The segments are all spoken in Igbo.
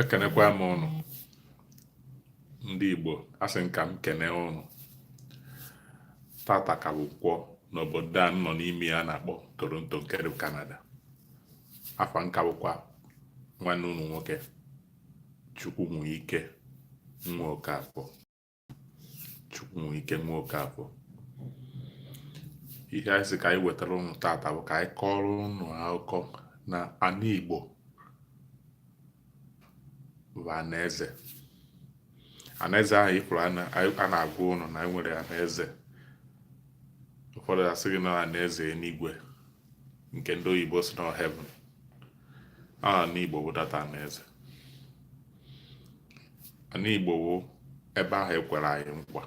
ekenekwa m ụnụ ndị Igbo asị m ka m kene ụnụ tata ka bụ Nkwọ n'obodo a nọ n'ime ya a na-akpọ Toronto nke dị Canada afa m ka bụkwa nwanne ụnụ nwoke Chukwunweike nwa Okafor Chukwunweike nwa Okafor ihe anyị sị ka anyị wetara ụnụ tata bụ ka anyị kọrọ ụnụ akụkọ na ana igbo bụ anaeze anaeze ahụ ị fụrụ a na-agwa ụnụ na anyị nwere anaeze ụfọdụ asị gị na anaeze eluigwe nke ndị oyibo sị na heaven ana Igbo bụ that ana eze ana Igbo bụ ebe ahụ ekwere anyị nkwa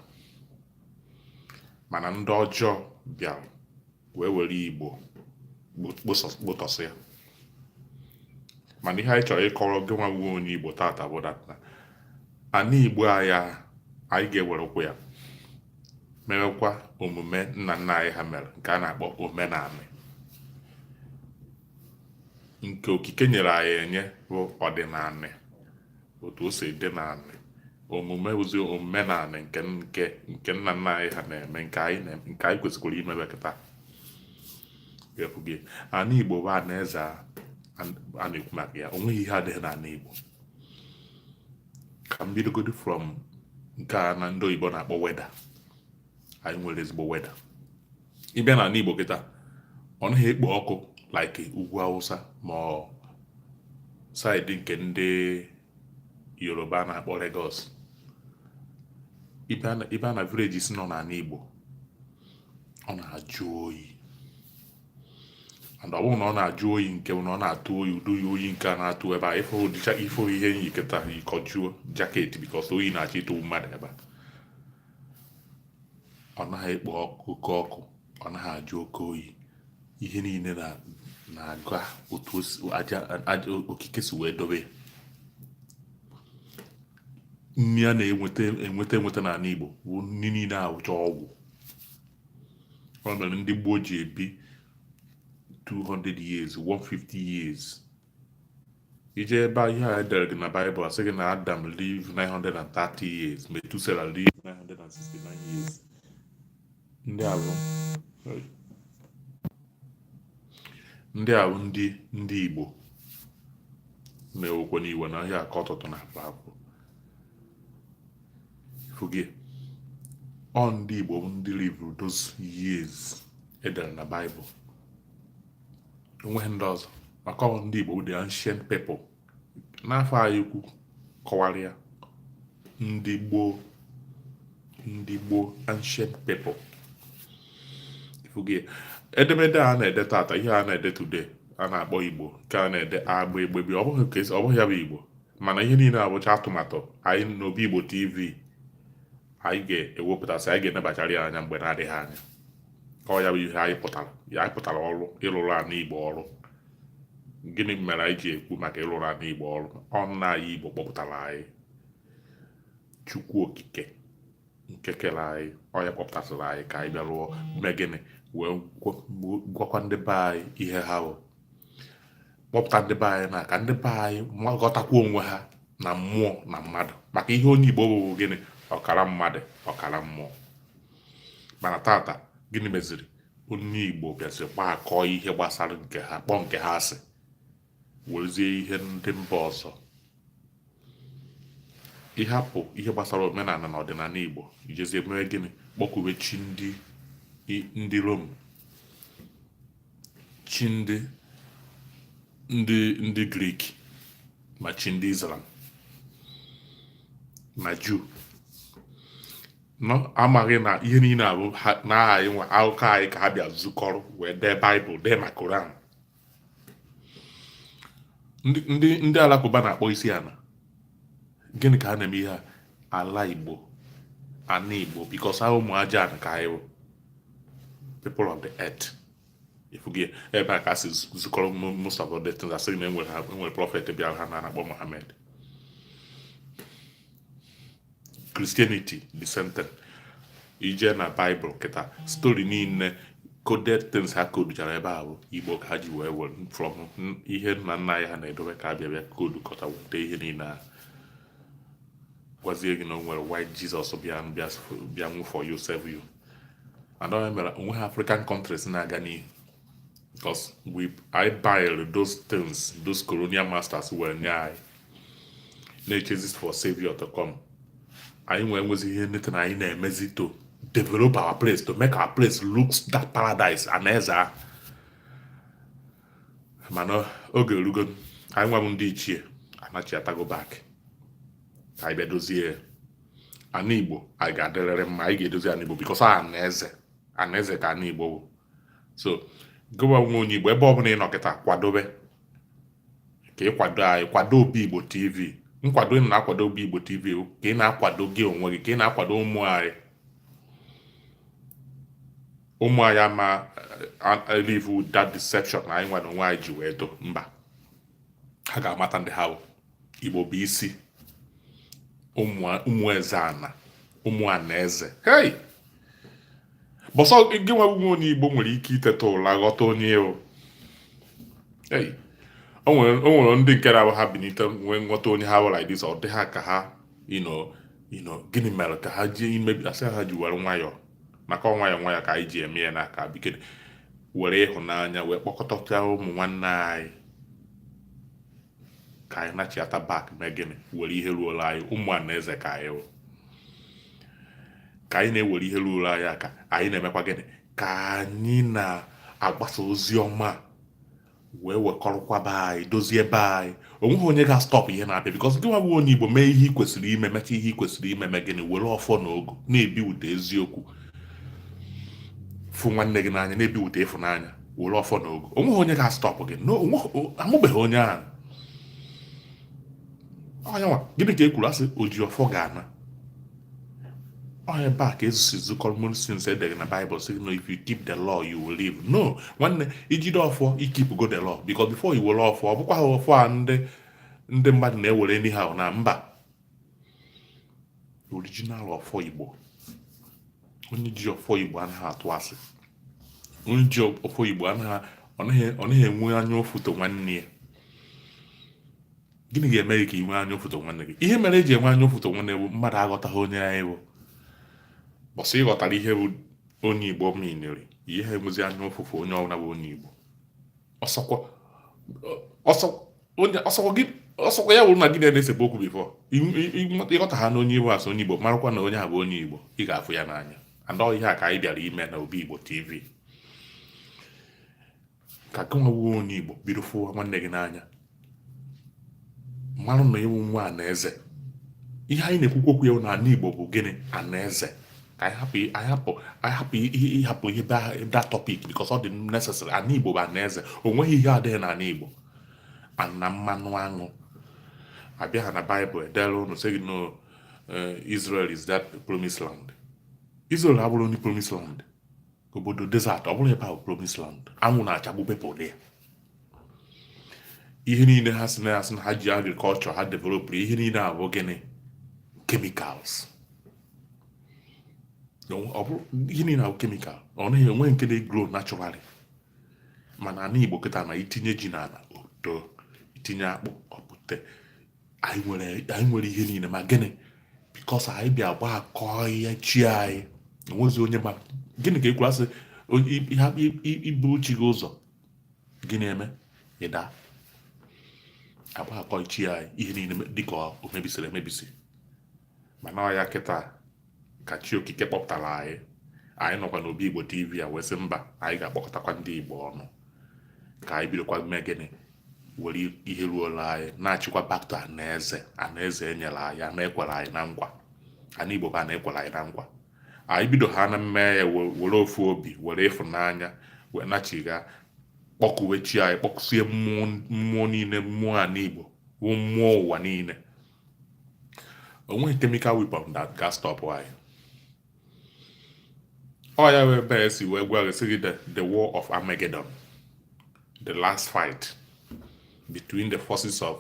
mana ndị ọjọọ bịara wee were Igbo kpọtọsịa mana ihe anyị chọrọ ịkọrọ gịnwa bụ onye Igbo tata bụ that ana Igbo anyị anyị ga-ewerekwa ya mewekwa omume nna nna anyị ha mere nke a na-akpọ omenanị nke okike nyere anyị enye bụ ọdịnanị otu o si dị n'anị omume bụzi omenanị nke nna nna anyị ha na-eme nke anyị kwesịkwara imebe kịta ana igbo bụ ana eze a a na-ekwu maka ya o nweghị ihe adịghị n'ana igbo ka m bidogodi from nke a ndị oyibo na-akpọ weather anyị nwere ezigbo weather ị bịa n'ala Igbo kịta ọ naghị ekpo ọkụ like ugwu Awụsa ma ọ side nke ndị Yoruba na-akpọ Lagos ị bịa na villages nọ n'ala Igbo ọ na-ajụ oyi and ọ bụrọ na ọ na-ajụ oyi nke na ọ na-atụ oyi ụdị oyi nke a na-atụ ebe a ị fụ ihe m yikọta yikọjuo jacket because oyi na-achọ ịtụ mmadụ ebe a ọ naghị ekpo oke ọkụ ọ naghị ajụ oke oyi ihe niile na-aga otu okike si wee dobe ya nri a na-enweta enweta n'ala Igbo bụ nri niile a wụcha ọgwụ ọ mere ndị gboo ji ebi 200 years 150 years ị je ebe ihe a e dere gị na Bible asị gị na Adam live 930 years Methuselah live 969 years ndị a bụ ndị a bụ ndị ndị igbo na-ewekwa n'iwe na ahịa aka ọtụtụ na akpa akwụ fugie ọ ndị igbo bụ ndị live-ru those years e dere na Bible onweghị ndị ọzọ maka ọ ndị Igbo the ancient people n'afa anyị ukwu kọwara ya ndị gboo ndị gboo ancient people ifugie edemede a na-ede tata ihe a na-ede today a na-akpọ Igbo nke a na-ede agba egbe bi ọ bụghị ya bụ Igbo mana ihe niile abụcha atụmatụ anyị n'Obi Igbo TV anyị ga-ewepụtasị anyị ga-enebachara ya anya mgbe na-adịghị anya ọ ya bụ ihe anyị pụtara ya anyị pụtara ọrụ ịlụrụ ana igbo ọrụ gịnị mere anyị ji ekwu maka ịlụrụ ana igbo ọrụ ọ nna anyị igbo kpọpụtara anyị chukwu okike nke kere anyị ọ ya kpọpụtasịrị anyị ka anyị bịa rụọ mee gịnị wee gwakwa ndị be anyị ihe ha bụ kpọpụta ndị be anyị na ka ndị be anyị ghọtakwa onwe ha na mmụọ na mmadụ maka ihe onye igbo bụ gịnị ọkara mmadụ ọkara mmụọ mana tata gịnị meziri onye igbo bịazi gbakọ ihe gbasara nke ha kpọọ nke ha asị werezie ihe ndị mba ọzọ ịhapụ ihe gbasara omenala na ọdịnala igbo ijezie mee gịnị kpọkube chi ndị ndị rom chi ndị ndị ndị grik ma chi ndị islam na juu amaghị na ihe niile a bụ n'aha anyị nwa akụkọ anyị ka ha bịa zukọrọ wee dee baịbụl dee ma koran ndị ndị alakụba na-akpọ isi ana gịnị ka a na-eme ihe ala igbo ana igbo because ọ ụmụ aja ka anyị bụ people of the earth ifugie ebe a ka ha si zukọrọ most of the things a sị na e nwere prophet bịara ha na-akpọ mohammed Christianity the same thing ije na Bible kịta story niile coded things ha koduchara ebe a bụ Igbo ka ha ji wee were from ihe nna nna anyị ha na-edobe ka ha bịa bịa kodu kọta weta ihe niile ahụ gwazie gị na o nwere white Jesus bịa bịa bịa nwụ for you save you and ọ ya mere onweghị African countries na-aga n'ihu because anyị buy those things those colonial masters were nye anyị na-echezi for savior to come anyị nwee nwezi ihe neta na anyị na-emezi to develop our place to make our place looks that paradise ana eze ahụ mana oge erugo anyị nwa bụ ndị ichie anachiatago back ka anyị bịa dozie ana igbo anyị ga-adịrịrị mma anyị ga-edozi ana igbo because ana eze ana eze ka ana igbo bụ so gị nwa wụ onye igbo ebe ọbụla ị nọ kịta kwadobe ka ị kwado anyị kwado obi igbo tv nkwado ị na-akwado obi igbo tv ka ị na-akwado gị onwe gị ka ị na-akwado ụmụ anyị ụmụ anyị ama live that deception na anyị nwere onwe anyị ji wee do mba ha ga-amata ndị ha bụ igbo bụ isi ụmụ eze ana ụmụ anaeze hei bụ sị gị nwa bụ onye igbo nwere ike iteta ụla ghọta onye o o nwere ndị nke na-abụ ha binite nwee nghọta onye ha wụ like this ọ dị ha ka ha you know you know gịnị mere ka ha ji emebi a sị ha ji were nwayọọ maka ọ nwayọọ nwayọọ ka anyị ji eme ya n'aka bikere were ịhụnanya wee kpọkọta ụmụ nwanne anyị ka anyị nachiata back mee gịnị were ihe ruola anyị ụmụ anaeze ka anyị wụ ka anyị na-ewere ihe ruola anyị aka anyị na-emekwa gịnị ka anyị na-agbasa ozi ọma wee wekọrọkwa be anyị dozie be anyị onweghị onye ga-astop ihe na-abịa because gị nwa wụ onye igbo mee ihe ị kwesịrị ime mecha ihe ị kwesịrị ime mee gịnị were ọfọ na ogu na-ebipụta eziokwu fụ nwanne gị n'anya na-ebipụta ịfụnanya were ọfọ na ogu onweghị onye ga-astop gị amụbeghị onye ahụ ọnyanwa gịnị ka e kwuru a sị oji ọfọ ga-ana ọ n'ebe a ka ezusi zu common sense e dere na Bible sị no if you keep the law you will live no nwanne i jide ọfọ i keep go the law because before i were ọfọ ọ bụkwaha ọfọ a ndị ndị mmadụ na-ewere anyhow na mba original ọfọ Igbo onye ji ọfọ Igbo anaghị atụ asị onye ji ọfọ Igbo anaghị ọ naghị enwe anya ụfụ to nwanne ya gịnị ga-eme gị ka ị nwee anya ụfụ to nwanne gị ihe mere e ji enwe anya ụfụ to nwanne bụ mmadụ aghọtaghị onye anyị bụ bụ sị ị ghọtara ihe bụ onye Igbo meanịrị i yeha enwezi anya ụfụ for onye ọbụla bụ onye Igbo ọ sọkwa ọ sọ onye ọ sọkwa gị ọ sọkwa ya wụrụ na gị na-esebe okwu before ị ghọtaha na onye Igbo a sị onye Igbo marakwa na onye a bụ onye Igbo ị ga-afụ ya n'anya and ọ ihe a ka anyị bịara ime na Obi Igbo TV ka gị nwa wụ onye Igbo bido fụwa nwanne gị n'anya manụ na ị wụ nwa anaeze ihe anyị na-ekwukwu okwu ya na ana Igbo bụ gịnị anaeze ka anyị hapụ anyị hapụ ịhapụ ihe that topic because ọ dị necessary ana Igbo bụ anaeze o nweghị ihe adịghị n'ana Igbo na mmanụ aṅụ abịa ha na Bible e dere unu sị gị no eh, Israel is that promised land Israel abụrụ ndị promised land obodo desert ọ bụrụ ebe ahụ promised land anwụ na-achagbu people dị ya ihe niile ha si na ya sị na ha ji agriculture ha developụrụ ihe niile a bụ gịnị chemicals ihe niile a bụ chemical ọ naghị enwe nke na-egrow naturally mana ana igbo kịta na i tinye ji n'ana o too i tinye akpụ ọ pụta anyị nwere ihe niile ma gịnị because anyị bịa gba akọ ya chi anyị o nwezi onye ma gịnị ka e kwuru a sị i buru chi gị ụzọ gịnị emee ị daa agba akọ chi anyị ihe niile dịka o mebisiri emebisi mana ọ ya kịta ka chi okike kpọpụtara anyị anyị nọkwa n'Obi Igbo TV a wee sị mba anyị ga-akpọkọtakwa ndị igbo ọnụ ka anyị bidokwa mee gịnị were ihe ruola anyị nachikwa back to ana eze ana eze e nyere anyị ana e kwere anyị na nkwa ana igbo bụ ana e kwere anyị na nkwa anyị bido ha na-eme ya were ofu obi were ịfụnanya wee nachigha kpọkuwe chi anyị kpọkusie mmụọ niile mmụọ ana igbo wụ mmụọ ụwa niile o nweghị chemical weapon that ga-astop anyị ọ ya wụ ebe e si wee gwa gị sị the war of Armageddon the last fight between the forces of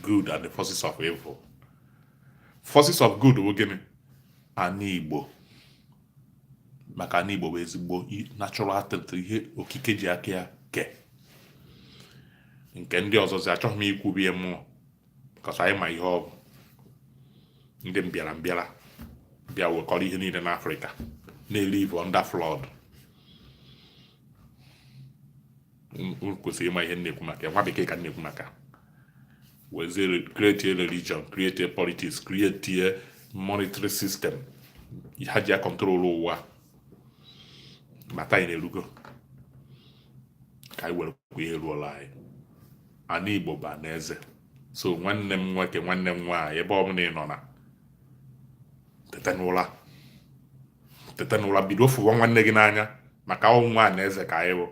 good and the forces of evil forces of good bụ gịnị ana igbo maka ana igbo bụ ezigbo natural talent ihe okike ji aka ya kee nke ndị ọzọzi achọghị m ikwubi mmụọ because anyị ma ihe ọ bụ ndị mbịara mbịara bịa wekọrọ ihe niile n'Africa na-elive under flood kwesịrị ịma ihe m na-ekwu maka ya nwa bekee ka m na-ekwu maka wezie create religion create politics create monetary system ha ji acontrol ụwa ma taa anyị na-erugo ka anyị werekwa ihe ruola anyị ana igbo bụ ana eze so nwanne m nwoke nwanne m nwaanyị ebe ọ bụla ị nọ na teta n'ụra teta n'ụra bido fụwa nwanne gị n'anya maka ọ nwa ana eze ka anyị bụ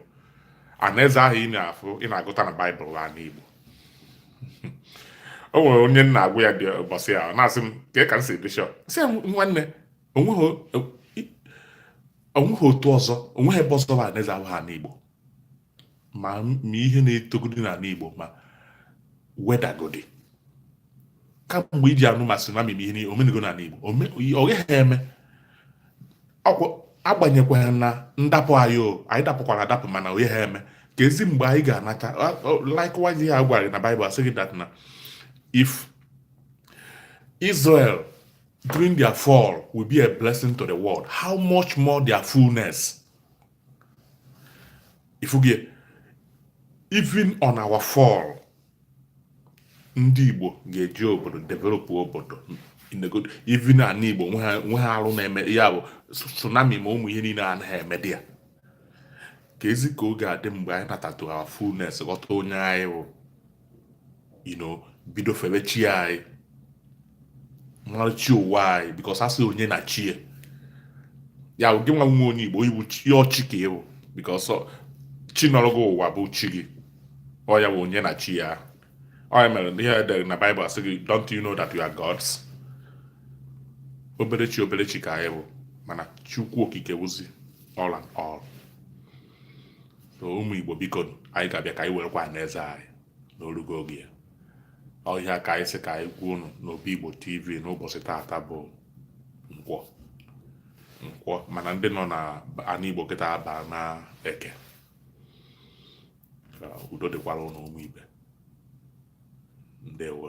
ana eze ahụ ị na-afụ ị na-agụta na Bible ana igbo o nwere onye m na-agwa ya dị ụbọchị ya na-asị m ka ka m sị bishop sị nwanne o nweghị otu ọzọ o nweghị ebe ọzọ bụ ana eze abụghị ana igbo ma ma ihe na-etogodi n'ala Igbo ma wedagodi kamgbe i ji anụ ma tsunami ma ihe o menego n'ala Igbo ọ gaghị eme agbanyekwana ndapụ anyị o anyị dapụkwara adapụ mana ọ naghị eme keezi mgbe anyị ga-anata likewise ihe a gwara na Bible a sị gị that na if Israel during their fall will be a blessing to the world how much more their fullness ị fụgo ya even on our fall ndị Igbo ga-eje obodo develop obodo even ana Igbo enweha arụ na-eme ya bụ tsunami ma ụmụ ihe niile anaghị emedị ya keezi ka ọ ga-adị mgbe anyị nata to our fullness ghọta onye anyị bụ you know bido febe chi anyị mara chi ụwa anyị because a sị onye na chi ya ya gị nwa wụ onye igbo ị wụ chi ọ chi ka ị bụ because chi nọrọ gị ụwa bụ chi gị ọ ya bụ onye na chi ya ọ ya mere ihe e dere na Bible a sị gị don't you know that you are gods obere chi obere chi ka anyị bụ mana chukwu okike wụzi all and all ụmụ igbo biko anyị ga-abịa ka anyị werekwa anaeze anyị na o rugo oge ya ọ ihe a ka anyị sị ka anyị gwa unu n'obi igbo tv n'ụbọsị taata bụ nkwọ nkwọ mana ndị nọ na ana igbo kịta abaana eke udo dịkwara unu ụmụ ibe ndewo